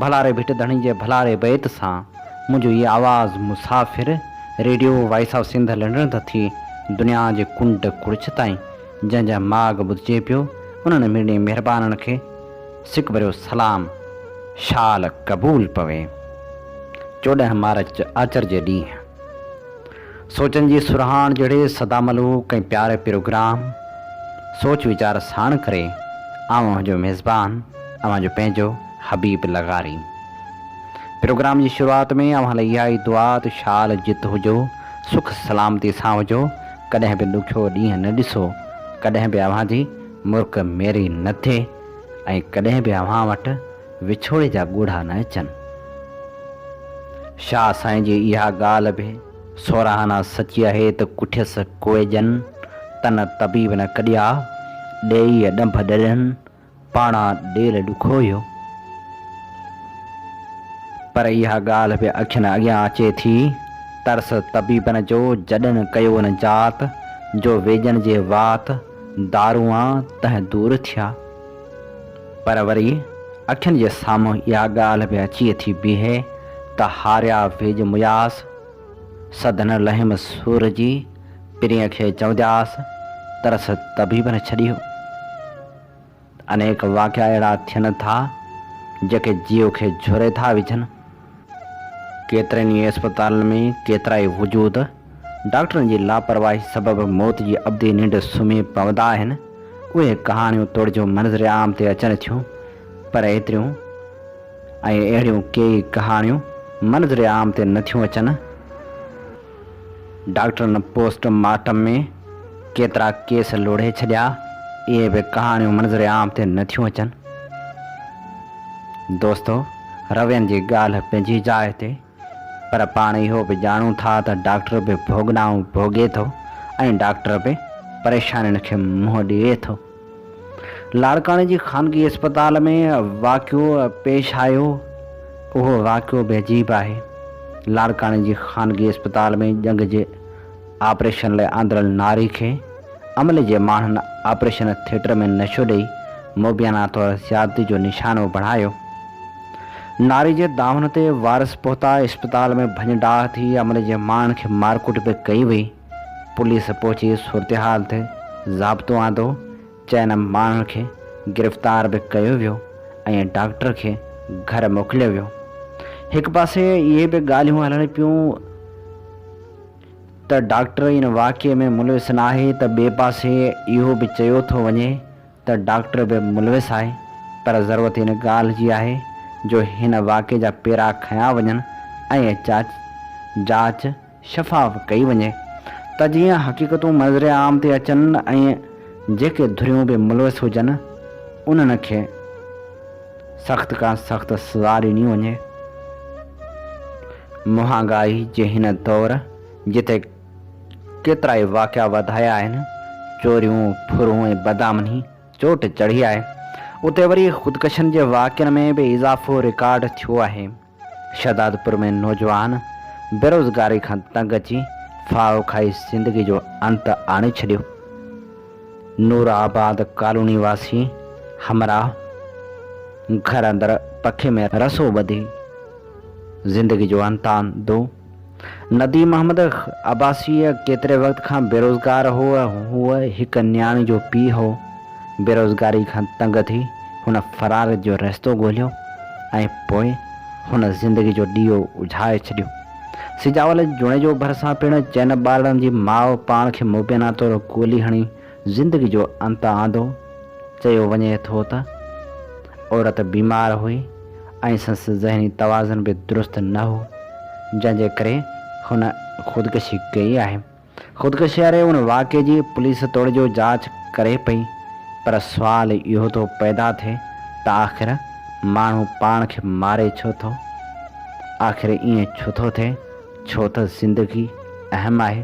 ڀلاري ڀٽ ڌڻي جي ڀلاري بيت سان منهنجو هي آواز مسافر radio voice of Sindh London تان ٿي دنيا جي ڪنڊ ڪڙڇ تائين جنهن جا ماڳ ٻڌجي پيو انهن مڙني مهربانن کي سڪ ڀريو سلام شال قبول پوي چوڏهن مارچ آچر جي ڏينهن. سوچن جي سرهاڻ جهڙي سدا ملوڪ ۽ پياري پروگرام سوچ ويچار ساڻ ڪري آئون اوهان جو ميزبان اوهان جو پنهنجو حبيب لغاري پروگرام جي شروعات ۾ اوهان لاء اها ئي دعا ته شال جت هجو سک سلامتي سان هجو ڪڏهن به ڏکيو ڏينهن نه ڏسو ڪڏهن به اوهان جي مرڪ ميري نه ٿئي ۽ ڪڏهن به اوهان وٽ وڇوڙي جا ڳوڙها نه اچن. شاهه سائين جي اها ڳالهه به سوراهانا سچي آهي ته ڪٺيس ڪوئي ڄن، ته نه طبيب نه ڪڏيا، ڏيئي ڏنڀ ڏرين، پاڻا ڏيل ڏکويو. پر اها ڳالهه به اکين اڳيان اچي ٿي، ترس طبيبن جو جڏن ڪيو نه جات، جو ويڄن جي وات، دارونئا تنهن دور ٿيا. پر وري اکين جي سامهون اها ڳالهه به اچي ٿي بيهي ته هاريا ويڄ مياس سڌن لحيم سور جي پرينء کي چوندياس ترس طبيب نه ڇڏيو. انيڪ واقعا اهڙا ٿين ٿا جيڪي جيو کي جهري ٿا وجهن. ڪيترن ئي اسپتالن ۾ ڪيترائي وجود ڊاڪٽرن جي لاپرواهي سبب موت جي ابدي ننڊ سمهي پوندا آهن. اهي ڪهاڻيون توڙجو منظر عام تي اچڻ ٿيون پر ايتريون ۽ اهڙيون ڪيئي ڪهاڻيون منظر عام تي نٿيون اچن. ڊاڪٽرن پوسٽ مارٽم ۾ ڪيترا ڪيس لوڙهي ڇڏيا، اهي به ڪهاڻيون منظر عام تي نه ٿيون اچن. دوستو! روين جي ڳالهه پنهنجي جاء تي، پر پاڻ اهو به ڄاڻون ٿا ته ڊاڪٽر به ڀوڳنائون ڀوڳي ٿو ۽ ڊاڪٽر به پريشانين کي منهن ڏئي ٿو. لاڙڪاڻي جي خانگي اسپتال ۾ واقعو پيش آيو، اهو واقعو به عجيب آهي، لاڙڪاڻي جي خانگي اسپتال ۾ ڄنگهه جي آپريشن لاء آندرل ناري کي عملي جي ماڻهن آپريشن ٿيٽر ۾ نشو ڏئي موبيانا طور زيادتي جو نشانو بڻايو، ناري جي دانهن تي وارث پهتا، اسپتال ۾ ڀڃ ڊاهه ٿي، عملي جي ماڻهن کي مارڪٽ به ڪئي وئي. پوليس پهچي صورتحال تي ضابطو آندو، چئن ماڻهن کي گرفتار به ڪيو ويو ۽ ڊاڪٽر کي گهر موڪليو ويو. هڪ پاسي اهي به ڳالهيون هلڻ پيون ته ڊاڪٽر ان واقعي ۾ ملوث ناهي ته ٻئي پاسي اهو به چيو ٿو وڃي ته ڊاڪٽر به ملوث آهي پر ضرورت ان ڳالهه جي آهي جو هن واقعي جا پيرا کنيا وڃن ۽ چاچ جاچ شفاف ڪئي وڃي ته جيئن حقيقتون منظر عام تي اچن ۽ جيڪي ڌريون به ملوث هجن انهن کي سخت کان سخت سزا ڏني وڃي. مهانگائي جي هن دور جتي ڪيترائي واقعا وڌايا آهن، چوريون، ڦرون ۽ بدامني چوٽ چڙهي آهي. اتي وري خودڪشين جي واقعن ۾ به اضافو رڪارڊ ٿيو آهي. شهدادپور ۾ نوجوان بيروزگاري کان تنگ اچي ڦاهو کائي زندگي جو انت آڻي ڇڏيو. نور آباد ڪالوني واسي همراهه گهر اندر پکي ۾ رسو ٻڌي زندگي جو انت آندو. نديم محمد عباسيء ڪيتري وقت کان بيروزگار هو. هو هڪ نياڻي جو پيء هو. بيروزگاري کان تنگ ٿي هن فرار جو رستو ڳولهيو ۽ پوء هن زندگي جو ڏيئو اجهائي ڇڏيو. سجاول جوڻيجو ڀرسان پڻ چئن ٻارڙن جي ماء پاڻ کي مبينا طور گولي هڻي زندگي جو انت آندو. چيو وڃي ٿو ته عورت بيمار هئي ۽ سنس ذهني توازن به درست نه هو، جنهن جي ڪري هن خودڪشي ڪئي آهي. خودڪشي واري ان واقعي جي پوليس توڙجو جاچ ڪري پئي پر سوال اهو ٿو پيدا ٿئي ته آخر ماڻهو پاڻ کي ماري ڇو ٿو؟ آخر ائين ڇو ٿو ٿئي؟ ڇو ته زندگي اهم آهي.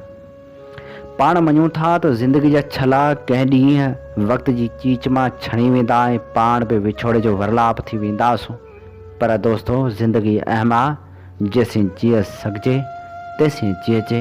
پاڻ مڃون ٿا ته زندگي جا ڇلا ڪنهن ڏينهن وقت جي چيچ مان ڇڻي ويندا ۽ پاڻ به وڇوڙي جو ورلاپ ٿي وينداسون پر دوستو زندگي اهم آ جيسين جيئي سگهجي تيسين جيئجي.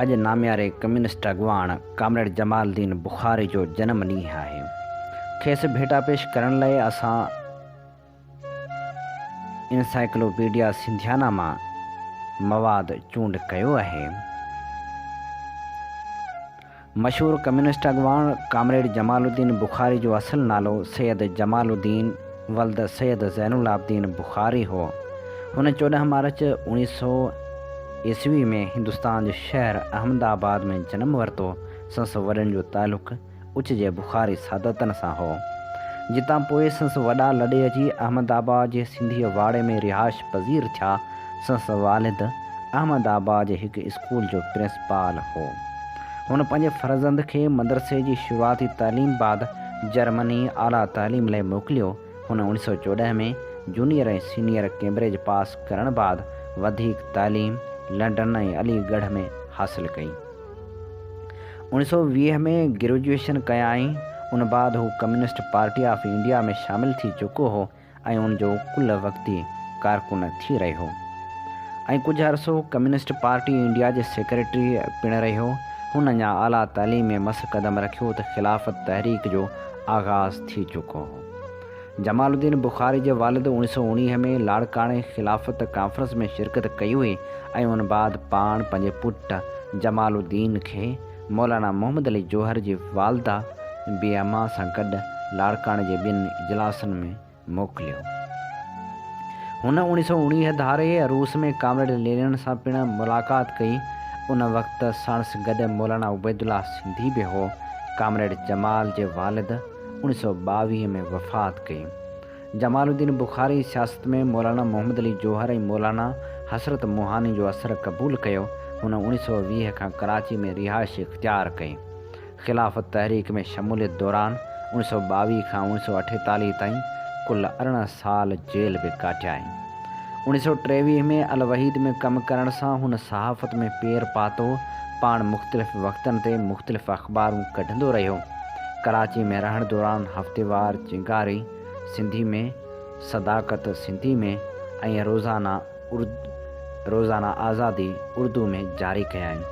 اڄ نامياري ڪميونسٽ اڳواڻ ڪامريڊ جمال الدين بخاري جو جنم ڏينهن آهي کيس ڀيٽا پيش ڪرڻ لئي اسان انسائيڪلوپيڊيا سنڌيانا مان مواد چونڊ ڪيو آهي. مشهور ڪميونسٽ اڳواڻ ڪامريڊ جمال الدين بخاري جو اصل نالو سيد جمال الدين ولد سيد زين العابدين بخاري هو. هن چوڏهن مارچ اوڻيهه سؤ عيسوي ۾ هندستان جي شهر احمد آباد ۾ جنم ورتو. سنس وڏن جو تعلق اچ جي بخاري سادتن سان هو، جتان پوء سنس وڏا لڏي اچي احمد آباد جي سنڌيء واڙي ۾ رهائش پذير ٿيا. سنس والد احمد آباد جي هڪ اسڪول جو پرنسپال هو. هن پنهنجي فرزند کي مدرسي جي شروعاتي تعليم بعد جرمني اعليٰ تعليم لئه موڪليو. هن اوڻيهه سؤ چوڏهن ۾ جونيئر ۽ سينيئر ڪيمبرج پاس ڪرڻ بعد وڌيڪ تعليم لنڊن ۽ علي ڳڙهه ۾ حاصل ڪئي. اوڻيھ سؤ ويهه ۾ گريجوئيشن ڪيائين، ان بعد هو ڪميونسٽ پارٽي آف انڊيا ۾ شامل ٿي چڪو هو ۽ ان جو ڪل وقتي ڪارڪن ٿي رهيو ۽ ڪجهه عرصو ڪميونسٽ پارٽي انڊيا جي سيڪريٽري پڻ رهيو. هن اڃا اعليٰ تعليم ۾ مس قدم رکيو ته خلافت تحريڪ جو آغاز ٿي چڪو هو. جمال الدين بخاري جي والد اوڻيهه سؤ اوڻيهه ۾ لاڙڪاڻي خلافت ڪانفرنس ۾ شرڪت ڪئي هئي ۽ ان بعد پاڻ پنهنجي پٽ جمال الدين کي مولانا محمد علي جوهر جي والده بي اما سان گڏ لاڙڪاڻي جي ٻن اجلاسن ۾ موڪليو. هن اوڻيهه سؤ اوڻيهه ڌاري روس ۾ ڪامريڊ لينن سان پڻ ملاقات ڪئي. ان وقت ساڻس گڏ مولانا عبيدالله سنڌي به هو. ڪامريڊ جمال جي والد، اڻ سؤ ٻاويهه ۾ وفات ڪئي. جمال الدين بخاري سياست ۾ مولانا محمد علي جوهر ۽ مولانا حسرت موهاني جو اثر قبول ڪيو. هن اڻ سؤ ويهه کان ڪراچي ۾ رهائش اختيار ڪئي. خلافت تحريڪ ۾ شموليت دوران اڻ سؤ ٻاويهه کان اڻ سؤ اٺيتاليهه تائين ڪل ارڙهن سال جيل به ڪاٽيائين. اڻ سؤ ٽيويهه ۾ الوحيد ۾ ڪم ڪرڻ سان هن صحافت ۾ پير پاتو. پاڻ مختلف وقتن تي مختلف اخبارون ڪڍندو رهيو. ڪراچي ۾ رهڻ دوران هفتيوار چنگاري سنڌي ۾، صداقت سنڌي ۾ ۽ روزانه ارد روزانه آزادي اردو ۾ جاري ڪيائين.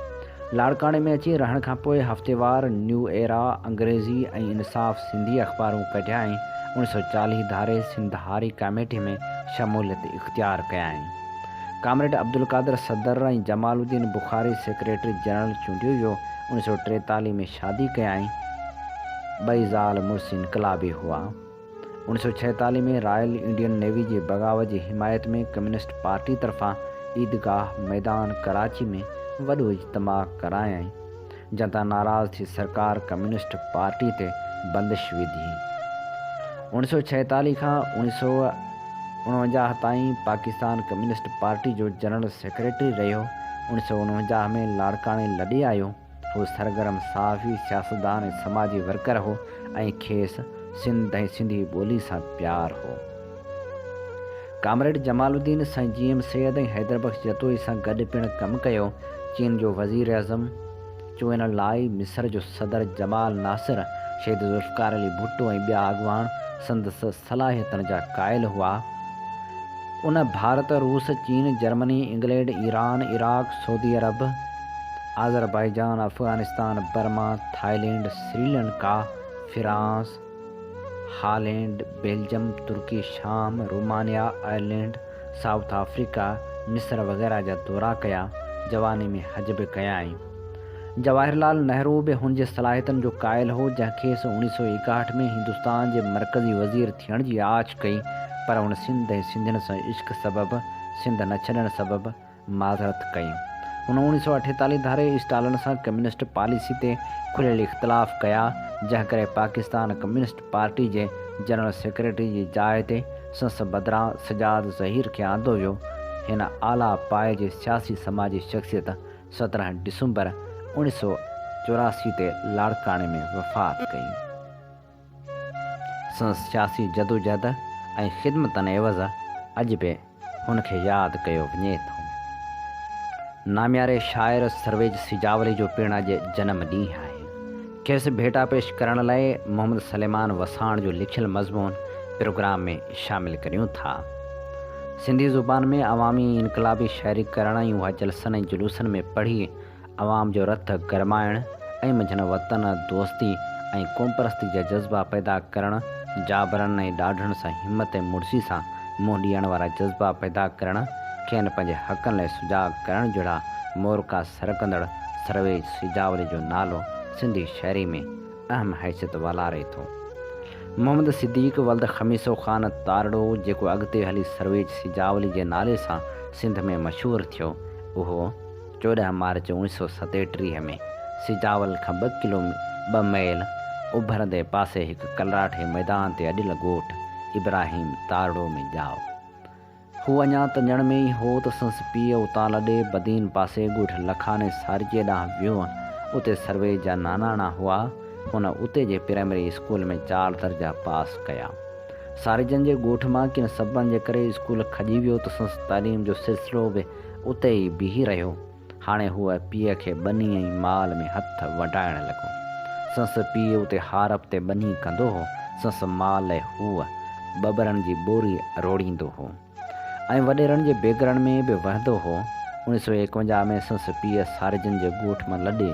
لاڙڪاڻي ۾ اچي رهڻ کان پوء هفتيوار نيو ايرا انگريزي ۽ انصاف سنڌي اخبارون ڪڍيائين. اڻيهه سؤ چاليهه ڌاري سنڌ هاري ڪاميٽي ۾ شموليت اختيار ڪيائين. ڪامريڊ عبدالقادر صدر ۽ جمال الدين بخاري سيڪريٽري جنرل چونڊيو ويو. اڻيهه سؤ ٽيتاليهه ۾ شادي ڪيائين. ٻئي زال مڙس انقلابي هئا. اڻيهه سؤ ڇهيتاليهه ۾ رائل انڊين نيوي جي بغاوت جي حمايت ۾ ڪميونسٽ پارٽي طرفان عيدگاهه ميدان ڪراچي ۾ وڏو اجتماع ڪرايائين. جنهن تان ناراض ٿي سرڪار ڪميونسٽ پارٽي تي بندش وڌي. اوڻ ويهه سؤ ڇاهيتاليهه کان اوڻ ويهه سؤ اڻونجاهه تائين پاڪستان ڪميونسٽ پارٽي جو جنرل سيڪريٽري رهيو. اوڻ ويهه سؤ اڻونجاهه ۾ لاڙڪاڻي لڏي آيو. هو سرگرم صحافي، سياستدان ۽ سماجي ورڪر هو ۽ کيس سنڌ ۽ سنڌي ٻولي سان پيار هو. ڪامريڊ جمال الدين سائين جي ايم سيد ۽ حيدر بخش جتوئي سان گڏ پڻ ڪم ڪيو. چين جو وزيراعظم، چوئن لاء مصر جو صدر جمال ناصر، شهيد ذوالفقار علي ڀٽو ۽ ٻيا اڳواڻ سندس صلاحيتن جا قائل هئا. ان ڀارت، روس، چين، Germany, England, Iran, Iraq, Saudi Arab, Azerbaijan, Afghanistan, Burma, Thailand, Sri Lanka, France, Holland, Belgium, Turkey, شام، رومانيا، آئرلينڊ، سائوٿ آفريڪا، مصر وغيره جا دورا ڪيا، جواني ۾ حج به ڪيائين. جواهر لال نهرو به هن جي صلاحيتن جو قائل هو، جنهن کيس اوڻيهه سؤ ايڪاهٺ ۾ هندستان جي مرڪزي وزير ٿيڻ جي آڇ ڪئي، پر هن سنڌ ۽ سنڌين سان عشق سبب، سنڌ نه ڇڏڻ سبب، معذرت ڪئي. هن اوڻيهه سؤ اٺيتاليهه ڌاري اسٽالن سان ڪميونسٽ پاليسي تي کليل اختلاف ڪيا، جنهن ڪري پاڪستان ڪميونسٽ پارٽي جي جنرل سيڪريٽري جي جاء تي سنس بدران سجاد ظهير کي آندو ويو. هن اعليٰ پائي جي سياسي سماجي شخصيت سترهن ڊسمبر اوڻيهه سؤ چوراسي تي لاڙڪاڻي ۾ وفات ڪئي. سندس سياسي جدوجهد ۽ خدمتن عيوض اڄ به هن کي ياد ڪيو وڃي ٿو. نامياري شاعر سرويچ سيجاولي جو پڻ اڄ جنم ڏينهن آهي. کيس ڀيٽا پيش ڪرڻ لاء محمد سليمان وساڻ جو لکيل مضمون پروگرام ۾ شامل ڪريون ٿا. سنڌي زبان ۾ عوامي انقلابي شاعري ڪرڻ ۽ اها جلسن ۽ جلوسن ۾ پڙهي عوام جو رت گرمائڻ ۽ منجهن وطن دوستي ۽ قومپرستي جا جذبا پيدا ڪرڻ، جابرن ۽ ڏاڍڙن سان همت ۽ مڙسي سان منهن ڏيڻ وارا جذبا پيدا ڪرڻ، کين پنهنجي حقن لاء سجاڳ ڪرڻ جهڙا مورکا سرڪندڙ سرويچ سيجاولي جو نالو سنڌي شاعري ۾ اهم حيثيت والاري ٿو. محمد صديق ولد خميسو خان تارڙو جيڪو اڳتي هلي سرويچ سيجاولي جي نالي سان سنڌ ۾ مشهور ٿيو، اهو. چوڏهن مارچ اوڻيھ سؤ ستيٽيهه ۾ سجاول کان ٻه ڪلو ٻه ميل اڀرندي پاسي هڪ ڪلراٺي ميدان تي اڏيل ڳوٺ ابراهيم تارڙو ۾ ڄائو. هو اڃا تنجڻ ۾ ئي هو ته سنس پيء اتان لڏي بدين پاسي ڳوٺ لکاني سارجيء ڏانهن ويو. اتي سرويچ جا ناناڻا هئا. هن اتي جي پرائمري اسڪول ۾ چار درجا پاس ڪيا. سارجن جي ڳوٺ مان ڪن سببن جي ڪري اسڪول کڄي ويو ته سنس تعليم جو سلسلو به اتي ئي بيهي رهيو. هاڻي هوء پيء کي ٻني ۽ مال ۾ هٿ وڍائڻ لڳو. سنس پيء اتي هارپ تي ٻني ڪندو هو، سنس مال لئه هوء ٻٻرن جي ٻوري روڙيندو هو ۽ وڏيرن جي بيگرن ۾ به وهندو هو. اڻيهه سؤ ايڪونجاهه ۾ سنس پيء سارجن جي ڳوٺ مان لڏي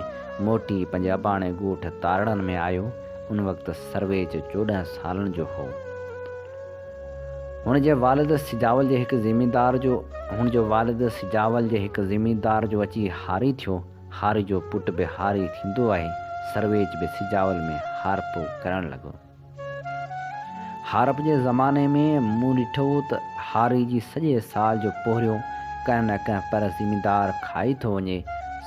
موٽي پنهنجي اباڻي ڳوٺ تارڙن ۾ آيو. ان وقت سرويچ چوڏهن سالن جو هو. هن جي والد سجاول جي هڪ زميندار جو هن جو والد سجاول جي هڪ زميندار جو اچي هاري ٿيو. هاري جو پٽ به هاري ٿيندو آهي. سرويچ به سجاول ۾ هارپ ڪرڻ لڳو. هارپ جي زماني ۾ مون ڏٺو ته هاري جي سڄي سال جو پورهيو ڪنهن نه ڪنهن پر زميندار کائي ٿو وڃي.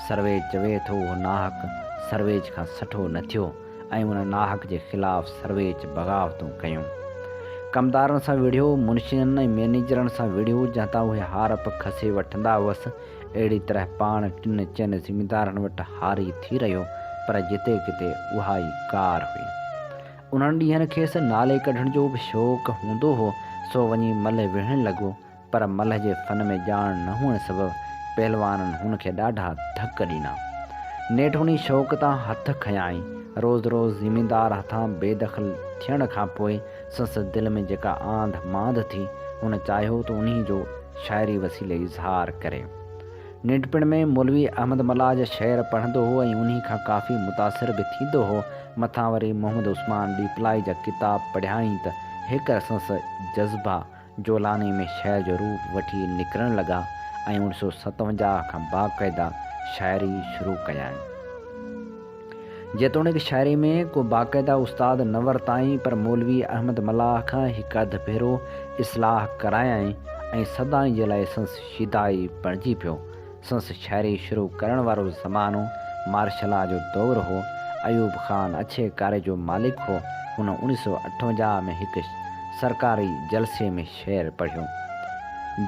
سرويچ چوي ٿو اهو ناحق سرويچ کان سٺو نه ٿيو. ۽ ان ناحق جي خلاف سرويچ بغاوتون ڪيون. ڪمدارن سان وڙهيو، منشين ۽ مئنيجرن سان وڙهيو، جنهن تان اهي هارپ کسي وٺندا هئس. اهڙي طرح پاڻ ٽن چئن زميندارن وٽ هاري ٿي رهيو، پر جتي ڪٿي اها ئي ڪار هئي. انهن ڏينهن کيس نالي ڪڍڻ جو به شوق هوندو هو، سو وڃي ملهه وهڻ لڳو. پر ملهه جي فن ۾ ڄاڻ نه هئڻ سبب پهلوانن هن کي ڏاڍا ڌڪ ڏنا. نيٺوڻي شوق تان هٿ کنيائين. روز روز زميندار هٿان بي دخل ٿيڻ کان پوء سندس دل ۾ جيڪا آنڌ مانڌ ٿي، هن چاهيو ته انهي جو شاعري وسيلي اظهار ڪري. ننڍپڻ ۾ مولوي احمد ملاح جا شعر پڙهندو هو ۽ انهي کان ڪافي متاثر به ٿيندو هو. مٿان وري محمد عثمان ڏيپلائي جا ڪتاب پڙهيائين ته هيڪر سندس جذبا جولاني ۾ شعر جو روپ وٺي نڪرڻ لڳا ۽ اوڻ سؤ ستونجاهه کان باقاعده شاعري شروع ڪيائين. جيتوڻيڪ شاعري ۾ ڪو باقاعده استاد نه ورتائين پر مولوي احمد ملاح کان هڪ اڌ ڀيرو اصلاح ڪرايائين ۽ سدائين جي لاء سنس شيدائي بڻجي پيو. سنس شاعري شروع ڪرڻ وارو زمانو مارشل لا جو دور هو. ايوب خان اڇي ڪاري جو مالڪ هو. هن اوڻيھ سؤ اٺونجاھ ۾ هڪ سرڪاري جلسي ۾ شعر پڙهيو.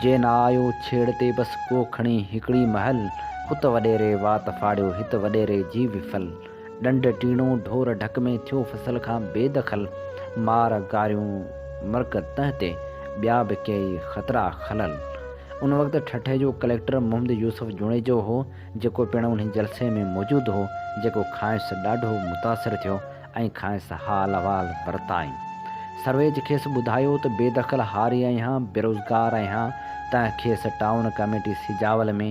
جي نه آيو ڇيڙ تي بس ڪو کڻي هڪڙي مهل، ات وڏيري وات ڦاڙيو هت وڏيري جي وفل. ڏنڊ ٽيڻو، ڍور ڍڪ ۾ ٿيو فصل کان بي دخل، مار گاريون مرڪ تنهن تي، ٻيا به ڪيئي خطرا خلل. ان وقت ٺٽي جو ڪليڪٽر محمد يوسف جوڻيجو هو، جيڪو پڻ انهي جلسي ۾ موجود هو، جيڪو کانئس ڏاڍو متاثر ٿيو ۽ کانئس حال احوال ورتائين. سرويچ کيس ٻڌايو ته بي دخل هاري آهيان، بيروزگار آهيان، تنهن کيس ٽائون ڪميٽي سجاول ۾،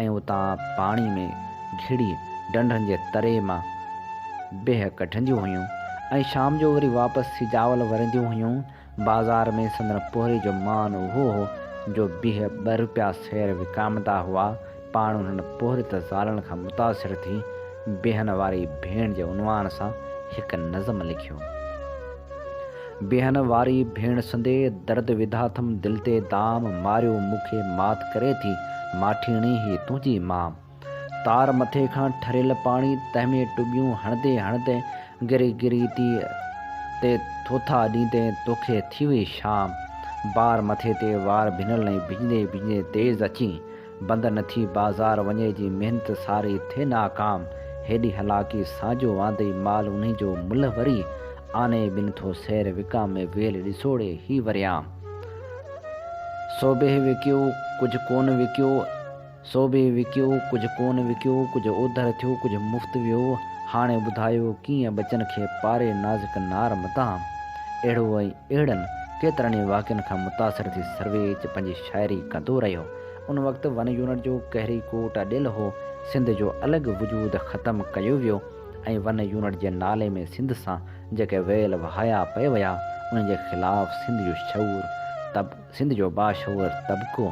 ۽ اتان پاڻي ۾ گهڙي ڍنڍن جي تري مان بيهه ڪڍنديون هيون ۽ شام جو وري واپس ٿي جاول ورنديون هيون. بازار ۾ سندن پورهيي جو مان اهو هو جو بيهه ٻه روپيا سير وڪامندا هئا. پاڻ انهن پورهيت زالن کان متاثر ٿي بيهن واري ڀيڻ جي عنوان سان هڪ نظم لکيو. بيهن واري ڀيڻ سندي درد وڌاٿم دل تي دام ماريو مون کي مات ڪري ٿي ماٺيڻي هي تنهنجي مام تار مٿي کان ٺريل پاڻي تنهن ۾ ٽٻيون هڻندي هڻندي گري گري تي تي ٿوٿا ڏيندي توکي ٿي وئي شام بار مٿي تي وار ڀنل ۽ ڀڄندي ڀڄندي تيز اچين بند نه ٿي بازار وڃي جي محنت ساري ٿئي ناڪام هيڏي هلاڪي ساجو واندئي مال انهي جو ملهه وري آني بن ٿو سير وڪام ۾ ويل ڏسوڙي هي وريام سوڀيه وڪيو ڪجهه ڪونه وڪيو سوڀيه وڪيو ڪجهه ڪونه وڪيو ڪجهه اوڌر ٿيو ڪجهه مفت ويو هاڻي ٻڌايو ڪيئن ٻچن کي پاري نازڪ نار مدام اهڙو ۽ اهڙن ڪيترن ئي واقعن کان متاثر ٿي سرويچ پنهنجي شاعري ڪندو رهيو. ان وقت ون يونٽ جو ڪهري ڪوٽ اڏيل هو، سنڌ جو الڳ وجود ختم ڪيو ويو ۽ ون يونٽ جي نالي ۾ سنڌ سان جيڪي ويل وهايا پئي ويا انهن جي خلاف سنڌ جو شعور طب سنڌ جو باشعور طبقو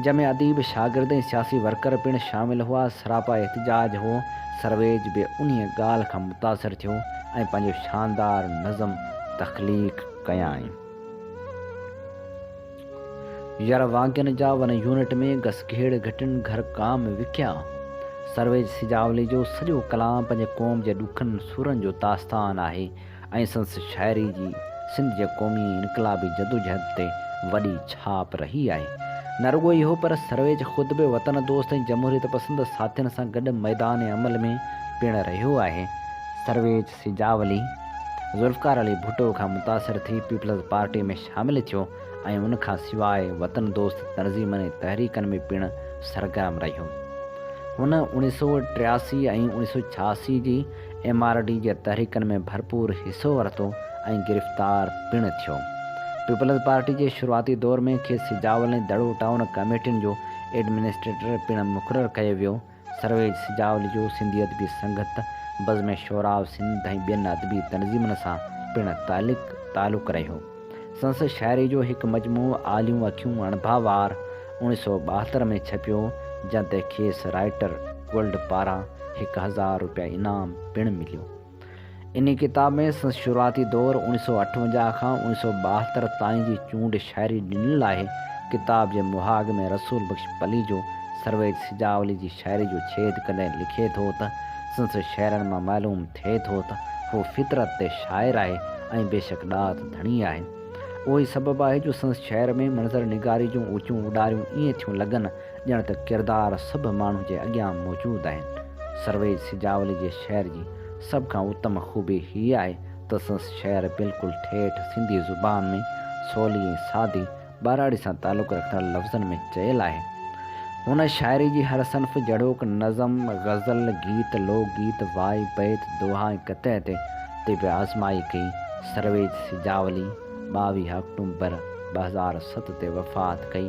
جنهن ۾ اديب، شاگرد ۽ سياسي ورڪر پڻ شامل هئا سراپا احتجاج هو، سرويچ به انهيء ڳالهه کان متاثر ٿيو ۽ پنهنجو شاندار نظم تخليق ڪيائين. ير وانگين جا ون يونٽ ۾ گسگهيڙ گهٽين گهر ڪام وڪيا. سرويج سجاولي جو سڄو ڪلام پنهنجي قوم جي ڏکن سورن جو داستان آهي ۽ سندس شاعري جي سنڌ جي قومي ۽ انقلابي جدوجهد تي وڏي ڇاپ رهي آهي. نه رڳو اهو پر سرويج خود به وطن دوست ۽ جمهوريت پسند ساٿين سان گڏ ميدان عمل ۾ پڻ رهيو آهي. سرويج. سجاولي، ذوالفقار علي ڀٽو کان متاثر ٿي پيپلز پارٽي ۾ شامل ٿيو ۽ ان کان سواء وطن دوست تنظيمن ۽ تحريڪن ۾ پڻ سرگرم رهيو. هن اوڻيهه سؤ ٽياسي ۽ اوڻيهه سؤ ڇهاسي جي ايم آر ڊي جي تحريڪن ۾ ڀرپور حصو ورتو ۽ گرفتار پڻ ٿيو. پيپلز پارٽي جي شروعاتي دور ۾ کيس سجاولي دڙو ٽائون ڪميٽين جو ايڊمنسٽريٽر پڻ مقرر ڪيو ويو سرويچ سجاول جو سنڌي ادبي سنگت، بزم شعراء سنڌ ۽ ٻين ادبي تنظيمن سان پڻ تعلق تعلق رهيو. سنس شاعري جو هڪ مجموعو آليون اکيون اڻڀا وار اوڻيھ سؤ ٻاهتر ۾ ڇپيو، جنھن تي کيس رائيٽر گلڊ پاران هڪ هزار روپيا انعام پڻ مليو. انهيء ڪتاب ۾ سندس شروعاتي دور، اوڻيهه سؤ اٺونجاهه کان اوڻيهه سؤ ٻاهتر تائين جي چونڊ شاعري ڏنل آهي. ڪتاب جي مهاڳ ۾ رسول بخش پليجو، سرويچ سجاولي جي شاعري جو ڇيد ڪندي لکي ٿو ته، سندس شعرن مان معلوم ٿئي ٿو ته، هو فطرت تي شاعر آهي ۽ بيشڪ ڏات ڌڻي آهي. اهو ئي سبب آهي جو سندس شعر ۾ منظر نگاري جون اوچون اڏاريون ائين ٿيون لڳن، ڄڻ ته ڪردار سڀ ماڻهو جي اڳيان موجود آهن. سرويج سجاولي جي شعر جي سڀ کان اتم خوبي هيء آهي ته سندس شعر بلڪل ٺيٺ سنڌي زبان ۾ سولي ۽ سادي ٻهراڙي سان تعلق رکندڙ لفظن ۾ چيل آهي. هن شاعري جي هر صنف جهڙوڪ نظم، غزل، گيت، لوڪ گيت، وائي، بيت، دوها ۽ قطع تي تي به آزمائي ڪئي. سرويج سجاولي ٻاويهه آڪٽومبر ٻه هزار ست تي وفات ڪئي.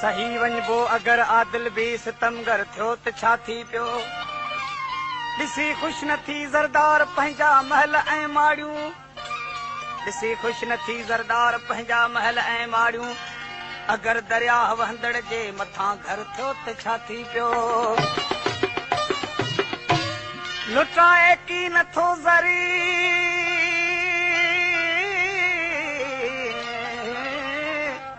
سهي وڃبو اگر عادل به ستمگر ٿيو ته ڇا ٿي پيو. ڏسي خوش نه ٿي زردار پنهنجا محل ۽ ماڙيون. ڏسي خوش نه ٿي زردار پنهنجا محل ۽ ماڙيون. اگر درياهه وهندڙ جي مٿان گهر ٿيو ته ڇا ٿي پيو. لٽائي ڪي نه ٿو زرين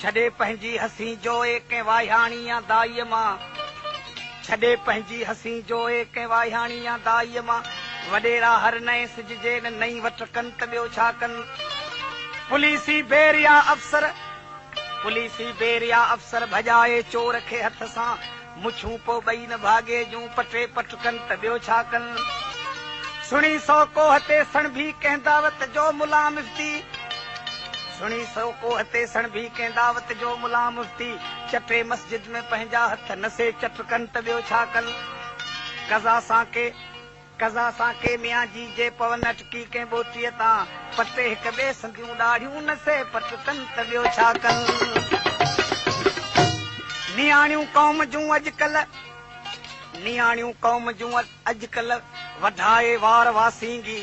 ڇڏي پنهنجي حسين جوئي ڪنهن واهياڻي يا دائيء مان ڇڏي پنهنجي حسين جوئي ڪنهن واهياڻي يا دائيء مان وڏيرا هر نئين سج جي ان نئين وٺ ڪن ته ٻيو ڇا ڪن پوليسي بير يا افسر پوليسي بير يا افسر ڀڄائي چور کي هٿ سان مڇون پوء ٻئي نه ڀاڳي جون پٽي پٽ ڪن ته ٻيو ڇا ڪن. سھڻي سو ڪوھه تي سڻڀي ڪنھن دعوت جو ملان مفتي سھڻي سو ڪوھه تي سڻڀي ڪنھن دعوت جو ملان مفتي چٽي مسجد ۾ پنھنجا ھٿ نسي چٽ ڪن ته ٻيو ڇا ڪن. قضا سان ڪي قضا سان ڪي ميان جي جي پون اٽڪي ڪنهن ٻوٽيء تان پٽي هڪ ٻئي سنديون ڏاڙهيون نه سهي پٽ ڪن ته ٻيو ڇا ڪن. نياڻيون قوم جون اڄڪلهه نياڻيون قوم جون اڄڪلهه وڍائي وار واسينگي.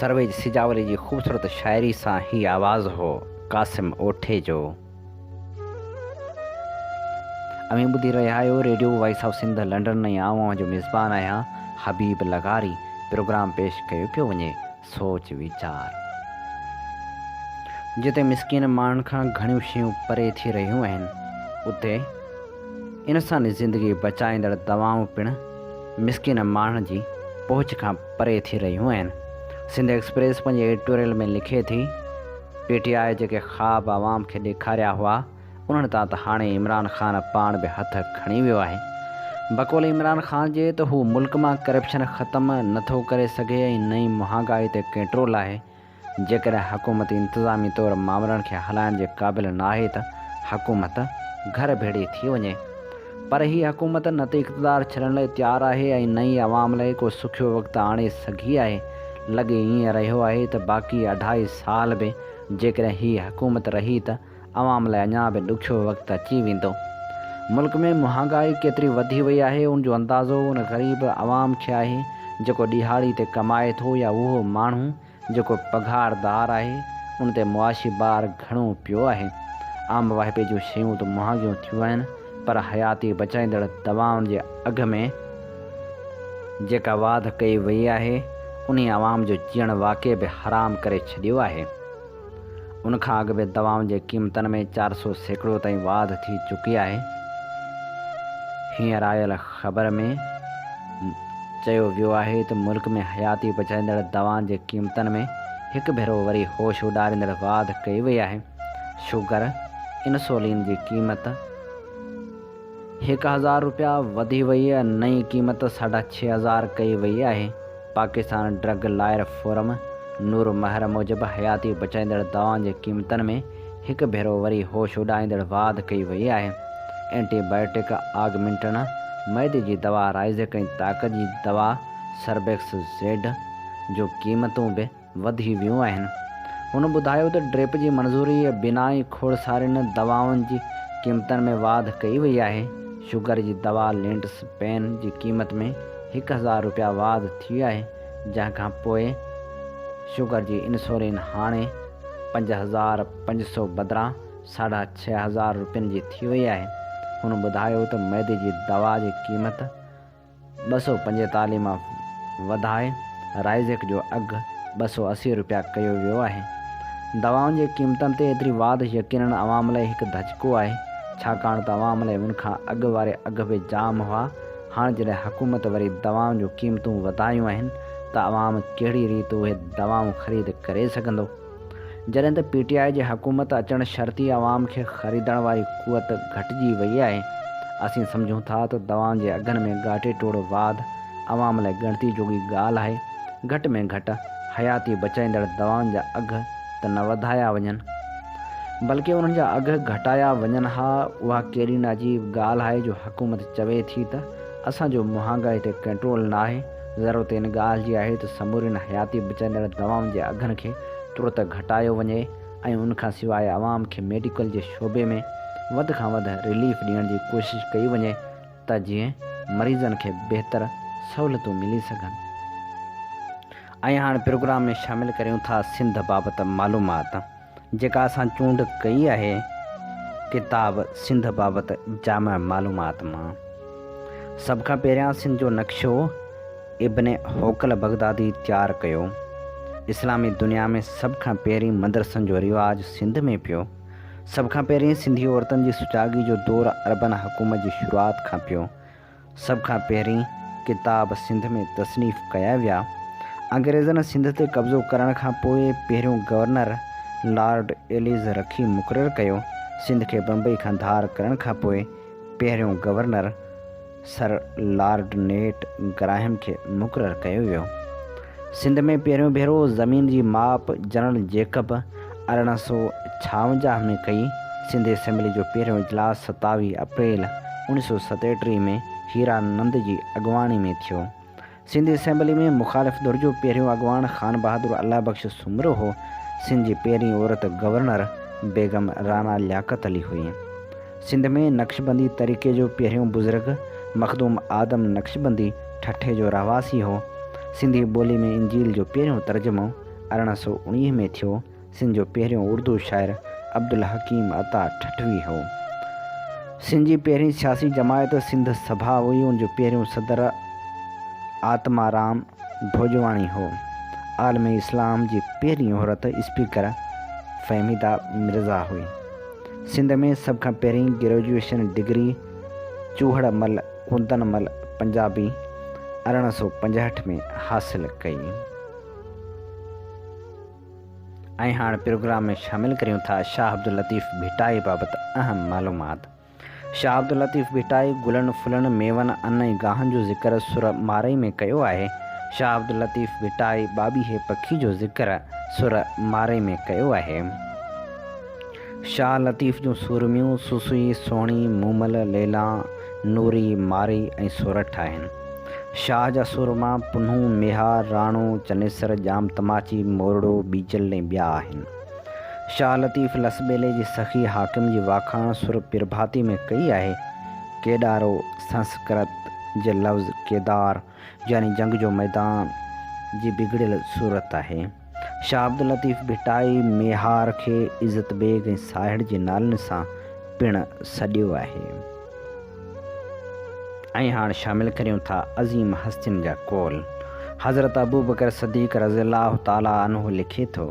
سرويج سجاولي جي خوبصورت شاعري سان هي آواز هو قاسم اوٺي جو. اوهين ٻڌي رهيا آهيو radio voice of Sindh London ۽ آئون اوهان جو ميزبان آهيان حبيب لغاري پروگرام پيش ڪيو پيو وڃي سوچ ويچار جتي مسڪين ماڻهن کان گهڻيون شيون پري ٿي رهيون آهن اتي انساني زندگي بچائيندڙ دوائون پڻ مسڪين ماڻهن جي پهچ کان پري ٿي رهيون آهن. سنڌ ايڪسپريس پنهنجي ايڊيٽوريل ۾ لکي ٿي، پي ٽي آء جيڪي خواب عوام کي ڏيکاريا هئا، انهن تان ته هاڻي عمران خان پاڻ به هٿ کڻي ويو آهي. بقول عمران خان جي ته هو ملڪ مان ڪرپشن ختم نه ٿو ڪري سگهي ۽ نه ئي مهانگائي تي ڪنٽرول آهي. جيڪڏهن حڪومت انتظامي طور مامرن کي هلائڻ جي قابل نه آهي ته حڪومت گهر ڀيڙي ٿي وڃي. پر هي حڪومت نه ته اقتدار ڇڏڻ لاء تيار آهي ۽ نه ئي عوام لاء ڪو سکيو وقت آڻي سگهي آهي. لڳي ائين رهيو آهي ته باقي اڍائي سال به جيڪڏهن هي حڪومت رهي ته عوام لاء اڃا به ڏکيو وقت اچي ويندو. ملڪ ۾ مهانگائي ڪيتري وڌي وئي آهي ان جو اندازو ان غريب عوام کي آهي جيڪو ڏيهاڙي تي ڪمائي ٿو يا اهو ماڻهو جيڪو پگهاردار آهي ان تي معاشي بار گهڻو پيو آهي. عام واهپي جون شيون ته مهانگيون ٿيون آهن پر حياتي بچائيندڙ دوائن جي اگهه ۾ جيڪا واڌ ڪئي وئي آهي انهي عوام جو جيئڻ واقعي به حرام ڪري ڇڏيو آهي. ان کان اڳ به دوائن جي قيمتن ۾ چار سؤ سيڪڙو تائين واڌ ٿي چڪي آهي. هينئر آيل خبر ۾ چيو ويو آهي ته ملڪ ۾ حياتي بچائيندڙ دوائن جي قيمتن ۾ هڪ ڀيرو وري هوش اڏاريندڙ واڌ ڪئي وئي آهي. شوگر، انسولين جي قيمت. هڪ هزار رپيا وڌي وئي ۽ نئين قيمت ساڍا ڇهه هزار ڪئي وئي آهي. Pakistan drug lawyer forum Noor Mehar موجب حياتي بچائيندڙ دوائن جي قيمتن ۾ هڪ ڀيرو وري هوش اڏائيندڙ واڌ ڪئي وئي آهي. اينٽي بائيوٽڪ آگمنٽن، معدي جي دوا رائيزڪ ۽ طاقت جي دوا سربيڪس زيڊ جون قيمتون به وڌي ويون آهن. هن ٻڌايو ته ڊريپ جي منظوري ۽ بنائي کوڙسارين دوائن جي قيمتن ۾ واڌ ڪئي وئي آهي، شگر جي دوا لينٽس پين جي قيمت ۾ هڪ هزار رپيا واڌ ٿي آهي، جنهن کان پوء شگر جي انسولين هاڻي پنج هزار پنج سؤ بدران ساڍا ڇهه هزار رپين جي ٿي وئي آهي، هن ٻڌايو ته معدي جي دوا جي قيمت. ٻه سؤ پنجيتاليهه مان وڌائي رائيزيڪ جو اگهه ٻه سؤ اسي رپيا ڪيو ويو آهي. دوائن جي قيمتن تي ايتري واڌ يقينن عوام لئي هڪ ڌچڪو آهي، ڇاڪاڻ ته عوام لئي ان کان اڳ واري اگهه به جام هئا، هاڻ جڏهن حڪومت وري دوائن جون قيمتون وڌايون آهن ته عوام ڪهڙي ريت اهي دوائون خريد ڪري سگهندو؟ جڏهن ته پي ٽي آء جي حڪومت اچڻ شرطي عوام کي خريدڻ واري قوت گهٽجي وئي آهي، اسين سمجهون ٿا ته دوائن جي اگهن ۾ ڳاٽي ٽوڙ واڌ عوام لاء ڳڻتي جوڳي ڳالهه آهي، گهٽ ۾ گهٽ حياتي بچائيندڙ دوائن جا اگهه ته نه وڌايا وڃن بلڪه انهن جا اگهه گهٽايا وڃن ها، اها ڪهڙي ناجيب ڳالهه آهي جو حڪومت چوي ٿي ته اسان جو مهانگائي تي ڪنٽرول ناهي. ضرورت ان ڳالهه جي آهي ته سمورين حياتي بچائيندڙ دوائن جي اگهن کي ترت گهٽايو وڃي ۽ ان کان سواء عوام کي ميڊيڪل جي شعبي ۾ وڌ کان وڌ رليف ڏيڻ جي ڪوشش ڪئي وڃي ته جيئن مريضن کي بهتر سهولتون ملي سگهن. ۽ هاڻ پروگرام ۾ شامل ڪريون ٿا سنڌ بابت معلومات. جيڪا اسان چونڊ ڪئي آهي ڪتاب سنڌ بابت جامع معلومات مان. سڀ کان پهريان سنڌ جو نقشو ابن حوقل بغدادي تيار ڪيو. اسلامي دنيا ۾ سڀ کان پهرين مدرسن جو رواج سنڌ ۾ پيو. سڀ کان پهرين سنڌي عورتن جي سجاڳي جو دور عربن حڪومت جي شروعات کان پيو. سڀ کان پهرين ڪتاب سنڌ ۾ تصنيف ڪيا ويا. انگريزن سنڌ تي قبضو ڪرڻ کان پوء پهريون گورنر لارڊ ايليز رکي مقرر ڪيو. سنڌ کي بمبئي کان ڌار ڪرڻ کان پوء پهريون گورنر سر لارڊ نيٽ گراهم کي مقرر ڪيو ويو. سنڌ ۾ پهريون ڀيرو زمين جي ماپ جنرل جيڪب ارڙهن سؤ ڇاونجاهه ۾ ڪئي. سنڌ اسيمبلي جو پهريون اجلاس ستاويهه اپريل اوڻيهه سؤ ستيٽيهه ۾ هيرا نند جي اڳواڻي ۾ ٿيو. سنڌ اسيمبلي ۾ مخالف ڌر جو پهريون اڳواڻ خان بهادر الله بخش سومرو هو. سنڌ جي پهرين عورت گورنر بيگم رانا لياقت علي هئي. سنڌ ۾ نقشبندي طريقي جو پهريون بزرگ مخدوم آدم نقشبندي ٺٽي جو رهواسي هو. سنڌي ٻولي ۾ انجيل جو پهريون ترجمو ارڙهن سؤ اڻيهه ۾ ٿيو. سنڌ جو پهريون اردو شاعر عبدالحڪيم عطا ٺٽوي هو. سنڌ جي پهرين سياسي جماعت سنڌ سڀا هئي ان جو پهريون صدر آتمارام ڀوڄواڻي هو. عالم اسلام جي پهرين عورت اسپيڪر فهميده مرزا هئي. سنڌ ۾ سڀ کان پهرين گريجوئيشن ڊگري چوهڙ مل ڪندن مل پنجابي ارڙهن سؤ پنجهٺ ۾ حاصل ڪئي ۽ هاڻ پروگرام ۾ شامل ڪريون ٿا شاهه عبداللطيف ڀٽائي بابت اهم معلومات شاهه عبداللطيف ڀٽائي گلن ڦلن ميون ان ۽ گاهن جو ذڪر سر مارئي ۾ ڪيو آهي شاهه عبداللطيف ڀٽائي ٻاٻيهي پکي جو ذڪر سر مارئي ۾ ڪيو آهي. شاهه لطيف جون سورميون سسئي، سهڻي، مومل، ليلا، نوري، مارئي ۽ سورٺ آهن. شاهه جا سورما پنهون، ميهار، راڻو، چنيسر، ڄام تماچي، مورڙو، ٻيجل ۽ ٻيا آهن. شاهه لطيف لسٻيلي جي سخي حاڪم جي واکاڻ سر پرڀاتي ۾ ڪئي آهي. ڪيڏارو، سنسڪرت، جي لفظ ڪيدار، يعني جنگ جو ميدان، جي بگڙيل صورت آهي. شاهه عبداللطيف ڀٽائي ميهار کي عزت بيگ ۽ ساهڙ جي نالن سان پڻ سڏيو آهي. ۽ هاڻ شامل ڪريون ٿا عظيم هستين جا قول. حضرت ابوبڪر صديق رضي الله تعالٰي عنه لکي ٿو.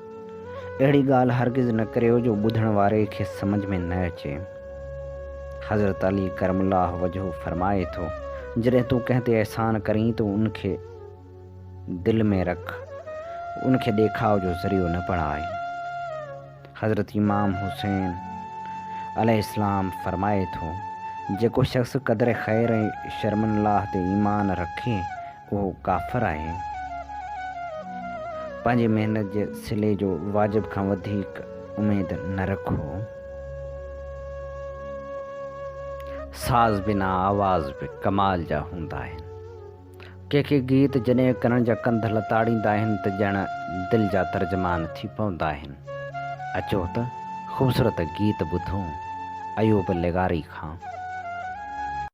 اهڙي ڳالهه هرگز نه ڪريو جو ٻڌڻ واري کي سمجهه ۾ نه اچي. حضرت علي ڪرم الله وجهه فرمائي ٿو، جڏهن تون ڪنهن تي احسان ڪرين ته ان کي دل ۾ رک، ان کي ڏيکاء جو ذريعو نه بڻاء. حضرت امام حسين عليه السلام فرمائي ٿو، جيڪو شخص قدر خير ۽ شرم الله تي ايمان رکي اهو ڪافر آهي، پنهنجي محنت جي صلي جو واجب کان وڌيڪ اميد نه رکو، ساز بنا آواز به ڪمال جا هوندا آهن، ڪي ڪي گيت جڏهن ڪنن جا ڪنڌ لتاڙيندا آهن ته ڄڻ دل جا ترجمان ٿي پوندا آهن، اچو ته خوبصورت گيت ٻڌون ايوب لغاري کان.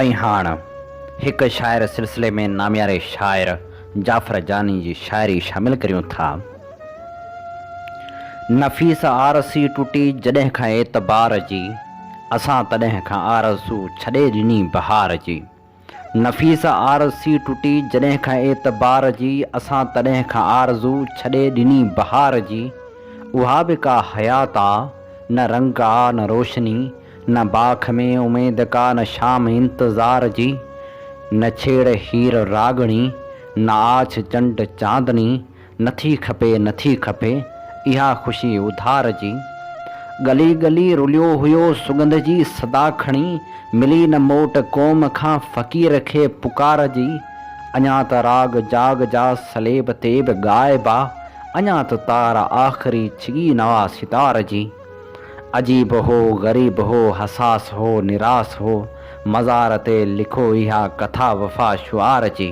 ۽ هاڻ هڪ شاعر سلسلي ۾ نامياري شاعر جعفر جاني جي شاعري شامل ڪريون ٿا. نفيس آرسي ٽٽي جڏهن کان اعتبار جي، اسان تڏهن کان آرزو ڇڏي ڏني بهار جي. نفيسه آرزسي ٽٽي جڏهن کان اعتبار جي اسان تڏهن کان آرزو ڇڏي ڏني بهار جي اها به ڪا حيات آ نه رنگ آ نه روشني نه باک ۾ اميد ڪا نه شام انتظار جي نه ڇيڙ هير راڳڻي نه آڇ چنڊ چاندني نٿي کپي نٿي کپي اها خوشي اڌار جي. ڳلي ڳلي رليو هيو سڳنڌ جي صدا کڻي ملي نه موٽ قوم کان فقير کي پڪار جي. اڃان ته راڳ جاڳ جا سليب تي به ڳائبا اڃان ته تار آخري ڇڳي نه آ ستار جي. عجيب هو غريب هو حساس هو نراس هو مزار تي لکو اها ڪٿا وفا شعار جي.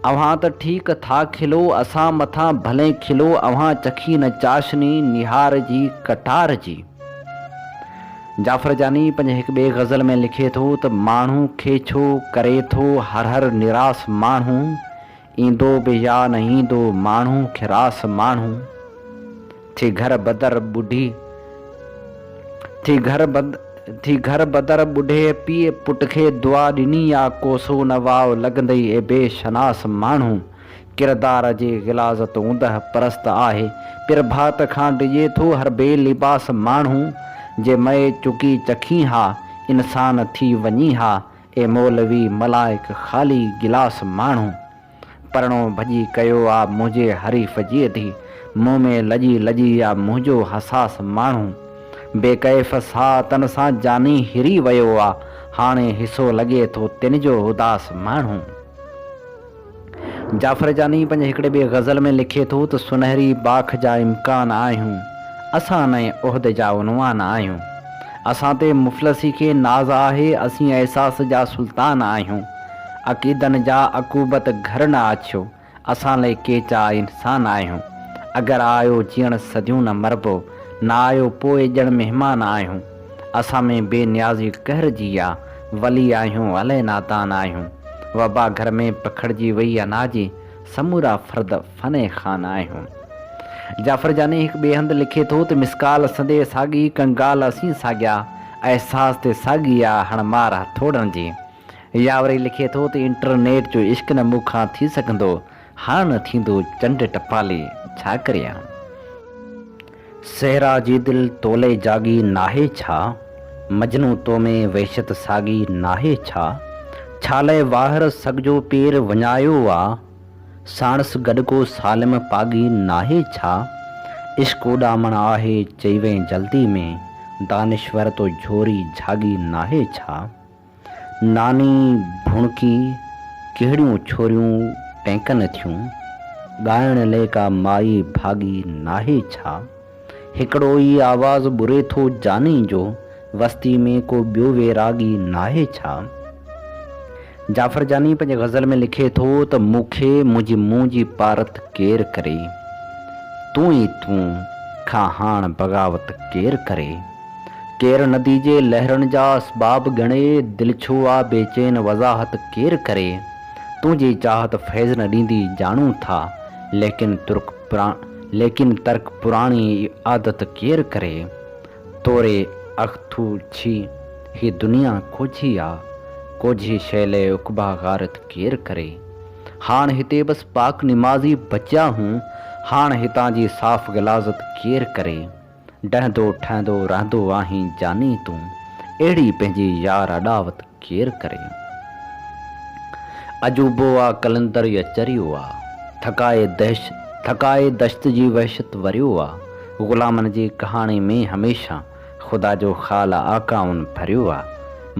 اوهان ته ٺيڪ ٿا کلو، اسان مٿان ڀلي کلو، اوهان چکي نه چاشني نهار جي ڪٽار جي. جعفر جاني پنهنجي هڪ ٻئي غزل ۾ لکي ٿو ته ماڻهو کي ڇو ڪري ٿو هر هر نراس ماڻهو ايندو به يا نه ايندو ماڻهو کي راس ماڻهو. ٿي گهر بدر ٻڍي ٿي گهر بد ٿي گهر بدر ٻڍي پيء پٽ کي دعا ڏني آ ڪوسو نه واء لڳندئي اي بي شناس ماڻهو ڪردار جي غلاظت اوندهه پرست آهي پير ڀات کان ڊڄي ٿو هر بي لباس ماڻهو جي مئي چڪي چکين ها انسان ٿي وڃي ها اي مولوي ملائڪ خالي گلاس ماڻهو. پرڻو ڀڄي ڪيو آ منهنجي حريف جي اڌي مون ۾ لڄي لڄي آ منهنجو حساس ماڻهو بي ڪيف ساهه تن سان جاني هري ويو آ هاڻي حصو لڳي ٿو تن جو اداس ماڻهو. جعفر جاني پنهنجي هڪڙي ٻي غزل ۾ لکي ٿو ته سنهري باک جا امڪان آهيون اسان نئين عهد جا عنوان آهيون اسان تي مفلسي کي ناز آهي اسين احساس جا سلطان آهيون عقيدن جا عقوبت گهر نه آڇيو، اسان لئي ڪيچا انسان آهيون، اگر آيو جيئڻ سڌيون نه مربو، نه آيو پوء ڄڻ مهمان آهيون، اسان ۾ بي نيازي قهر جي آ، ولي آهيون الئي نادان آهيون، وبا گهر ۾ پکڙجي وئي اناجي، سمورا فرد فني خان آهيون. جعفر جاني هڪ ٻئي هنڌ لکي ٿو ته مسڪال سندي ساڳي، ڪنگال اسين ساڳيا، احساس تي ساڳي آ هڻ مار هٿوڙن جي. يا وري لکي ٿو ته انٽرنيٽ جو عشق نه مون کان ٿي سگهندو، هاڻ ٿيندو چنڊ ٽپالي، ڇا ڪريان؟ صحرا جي دل تولئي جاڳي ناهي ڇا؟ مجنو تو ۾ وحشت ساڳي ناهي ڇا؟ ڇالئي واهر سڳ جو پير وڃايو آ؟ ساڻس گڏ ڪو سالم پاڳي ناهي ڇا؟ عشق اڏامڻ آهي چئي وئين جلدي ۾، دانشور تو جهوري جهاڳي ناهي ڇا؟ ناني ڀڻڪي، ڪهڙيون ڇوريون ٽهڪن ٿيون، ڳائڻ لئه ڪا مائي ڀاڳي ناهي ڇا؟ هڪڙو ئي آواز ٻري ٿو جاني جو، وستي ۾ ڪو ٻيو ويراڳي ناهي ڇا؟ جعفر جاني پنهنجي غزل ۾ لکي ٿو ته مون کي منهنجي منهن جي پارت ڪير ڪري؟ تون ئي تون، کان هاڻ بغاوت ڪير ڪري؟ ڪير ندي جي لهرن جا اسباب ڳڻي، دل ڇو آ بيچين وضاحت ڪير ڪري، تنهنجي چاهت فيض نه ڏيندي ڄاڻون ٿا، ليڪن ترڪ ليڪن ترڪ پراڻي عادت ڪير ڪري، توري اکٿو ڇي، هي دنيا ڪوجهي آ، ڪوجهي شيء لئه عقبا غارت ڪير ڪري، هاڻ هتي بس پاڪ نمازي بچيا هون، هاڻ هتان جي صاف غلاظت ڪير ڪري. ڊهندو ٺهندو رهندو آهين جاني تون اهڙي پنهنجي يار اڏاوت ڪير ڪري. عجوبو آ قلندر يا چريو آ. ٿڪائي دهش ٿڪائي دشت جي وحشت وريو آ. غلامن جي ڪهاڻي ۾ هميشه خدا جو خال آقائن ڀريو آ.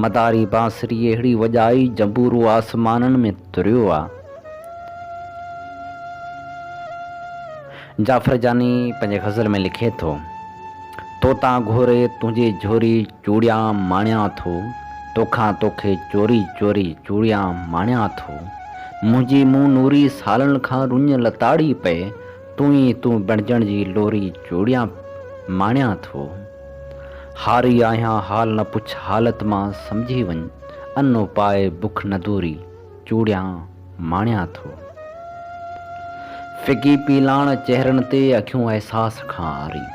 مداري بانسري اهڙي وڄائي جنبورو آسمانن ۾ تريو آ. جعفر جاني پنهنجي غزل ۾ لکي ٿو، توتان گهوري تنهنجي جهوري چوڙيان ماڻيان ٿو، توکان توکي چوري چوري چوڙيان ماڻيان ٿو، منهنجي مون نوري سالن کان رڃ لتاڙي پئي، تون ئي تون بڻجڻ جي لوري چوڙيان ماڻيان ٿو، هاري آهيان حال نه پڇ حالت مان سمجهي وڃ، انو پائي بک نه دوري. چوڙيان ماڻيان ٿو. ڦڪي پيلاڻ چهرن تي اکيون احساس کان عاري.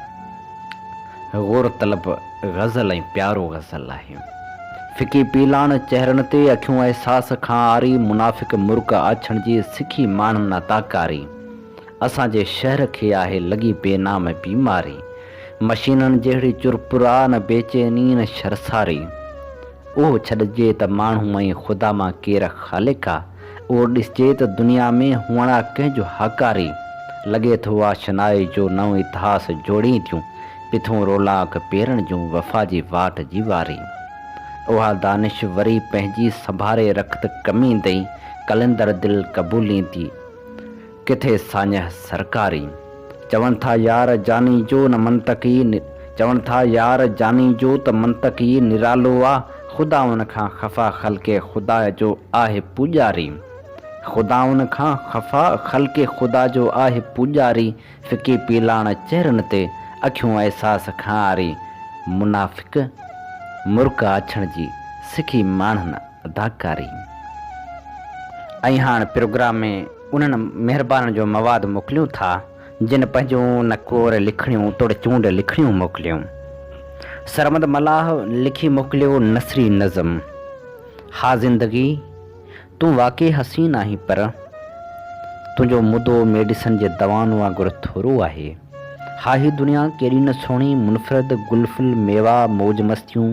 غور طلب غزل ۽ پيارو غزل آهي. ڦڪي پيلاڻ چهرن تي اکيون احساس کان عاري منافق مرڪ آڇڻ جي سکي ماڻهن نا تاڪاري اسان جي شهر کي آهي لڳي بي نام بيماري مشينن جهڙي چرپرا نه بيچيني نه شرساري اهو ڇڏجي ته ماڻهو ۽ خدا مان ڪير خالق آ؟ اهو ڏسجي ته دنيا ۾ هئڻ آ ڪنهن جو هاڪاري؟ لڳي ٿو آ شنائي جو نئون اتهاس جوڙين ٿيون، پٿون رولاڪ پيرڻ جون وفا جي واٽ جي واري. اها دانش وري پنهنجي سنڀاري رکت ڪميندئي قلندر دل قبولين ٿي. ڪٿي ساڃهه سرڪاري. چون ٿا يار جاني جو نه منطق ئي چون ٿا يار جاني جو ته منطق ئي نرالو آ خدائن کان خفا خلق خدا جو آهه پوڄاري خدائن کان خفا خلق خدا جو آهه پوڄاري ڦڪي پيلاڻ چهرن تي اکيون احساس کانئاري منافق مرڪ آڇڻ جي سکي ماڻهن اداڪاري ۽ هاڻ پروگرام ۾ انهن مهربانن جو مواد موڪليون ٿا جن پنهنجون نڪور لکڻيون توڙي چونڊ لکڻيون موڪليون. سرمد ملاح لکي موڪليو نثري نظم ها زندگي تون واقعي حسين آهين پر تنهنجو مدو ميڊيسن جي دوائن وانگر ٿورو آهي ها هي دنيا ڪيڏي نه سهڻي منفرد گل ڦل ميوا موج مستيون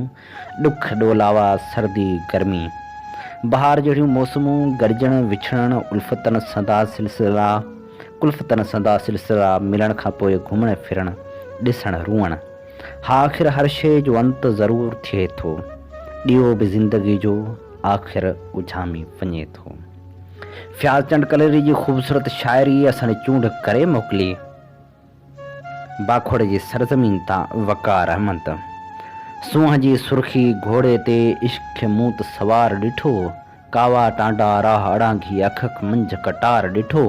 ڏک ڏولاوا، سردي، گرمي، بهار جهڙيون موسمون، گڏجڻ، وڇڙڻ، الفتن سندا سلسلا، ڪلفتن سندا سلسلا، ملڻ کان پوء گهمڻ ڦرڻ، ڏسڻ، روئڻ، ها آخر هر شيء جو انت ضرور ٿئي ٿو. ڏيئو به زندگيء جو آخر اجهامي وڃي ٿو. فياض چنڊ ڪليري جي خوبصورت شاعريء اسان ڏي چونڊ ڪري موڪلي. باکوڙ جي سرزمين تان وقار احمد سونهن جي سرخي گهوڙي تي عشق کي مون ته سوار ڏٺو ڪاوا ٽانڊا راهه اڙانگهي اکک منجهه ڪٽار ڏٺو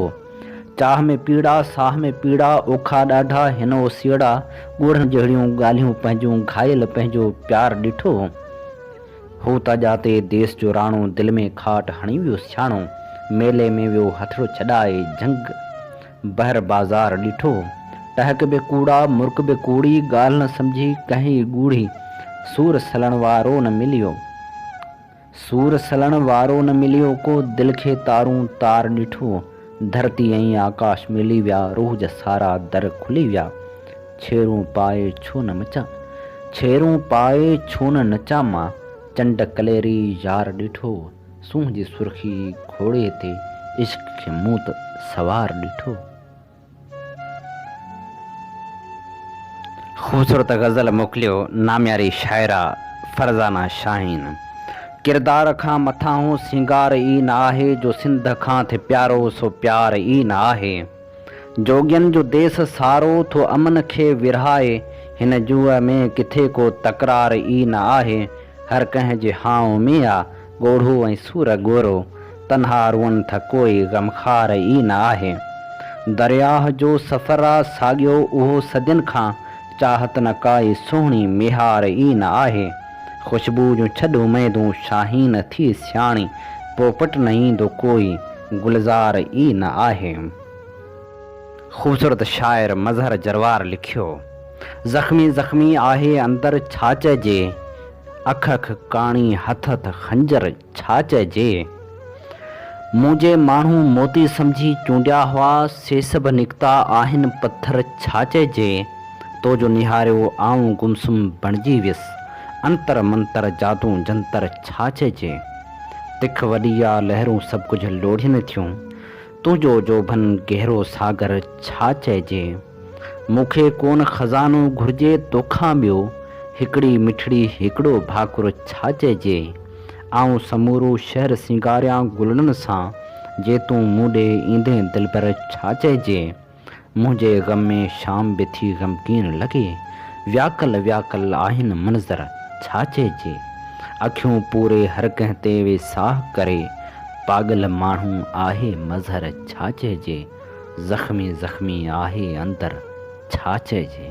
چاهه ۾ پيڙا ساهه ۾ پيڙا اوکا ڏاڍا هن اوسيئڙا ڳوڙهن جهڙيون ڳالهيون پنهنجون گهائيل پنهنجو پيار ڏٺو هو ته ڄاتي ديس جو راڻو دل ۾ کاٽ هڻي ويو سياڻو ميلي ۾ ويو هٿڙو ڇڏائي جهنگ بحر بازار ڏٺو، ٽهڪ به ڪوڙا، مرڪ به ڪوڙي، ڳالهه نه سمجهي ڪهين ئي ڳوڙهي، سور سلڻ وارو نه مليو، سور سلڻ وارو نه مليو ڪو، دل کي تارون تار ڏٺو، ڌرتي ۽ آڪاش ملي ويا، روح جا سارا در کلي ويا، ڇيرون پائي ڇو نه مچان، ڇيرون پائي ڇو نه نچان مان، چنڊ ڪليري يار ڏٺو. سونهن جي سرخي گهوڙي تي عشق کي مون ته سوار ڏٺو. خوبصورت غزل موڪليو نامياري شاعره فرزانه شاهين ڪردار کان مٿانهون سينگار ئي نه آهي جو سنڌ کان ٿي پيارو سو پيار ئي نه آهي. جوڳين جو ديس سارو ٿو امن کي ورهائي، هن جوء ۾ ڪٿي ڪو تڪرار ئي نه آهي، هر ڪنهن جي هانء ۾ آ ڳوڙهو ۽ سور ڳورو، تنها روئن ٿا ڪوئي غمخار ئي نه آهي. درياهه جو سفر آ ساڳيو اهو صدين کان، چاهت نه ڪائي سهڻي ميهار ئي نه آهي. خوشبو جون ڇڏ اميدون شاهين ٿي سياڻي پوپٽ نه ايندو ڪوئي گلزار ئي نه آهي. خوبصورت شاعر مظهر جروار لکيو، زخمي زخمي آهي اندر ڇا چئجي، اک اک ڪاڻي هٿ هٿ خنجر. ڇا چئجي؟ مون جي ماڻهو موتي سمجهي چونڊيا هئا، سي سڀ نڪتا آهن پٿر ڇا چئجي؟ تو جو نهاريو آئون گمسم بڻجي ويس، انتر منتر جادو جنتر ڇا چئجي؟ تک وڏي آ لهرون سڀ ڪجهه لوڙهين ٿيون، تنهنجو جوڀن گهرو ساگر ڇا چئجي. مون کي ڪونه خزانو گهرجي توکان ٻيو، هڪڙي مٺڙي هڪڙو ڀاڪر ڇا چئجي. آئون سمورو شهر سينگاريان گلڙن سان، جي تون مون ڏي ايندين دلبر ڇا چئجي. منهنجي غم ۾ شام به ٿي غمگين لڳي. وياڪل وياڪل آهن منظر، ڇا چئجي. اکيون پوري هر ڪنهن تي وي ساهه ڪري. پاڳل ماڻهو آهي مظهر، ڇا چئجي. زخمي زخمي آهي اندر، ڇا چئجي.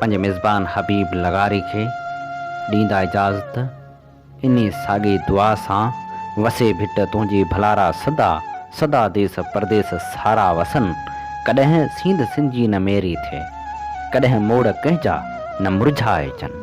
پنهنجي ميزبان حبيب لغاري کي ڏيندا اجازت انهي ساڳي دعا سان وسي ڀٽ تنهنجي ڀلارا سدا سدا ديس پرديس سارا وسن ڪڏهن سينڌ سنجي نه ميري ٿئي ڪڏهن موڙ ڪنهن جا نه مرجهائجن.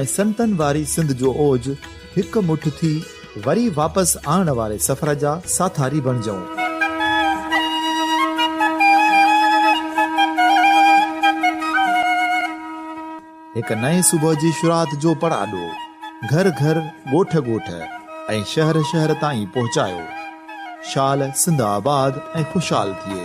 ۽ سنتن واري سنڌ جو اوج هڪ مٺ ٿي وري واپس آڻڻ واري سفر جا ساٿاري بڻجئون. هڪ نئين صبح جي شروعات جو پڙاڏو گهر گهر، ڳوٺ ڳوٺ ۽ شهر شهر تائين پهچايو. شال سنڌ آباد ۽ خوشحال ٿئي.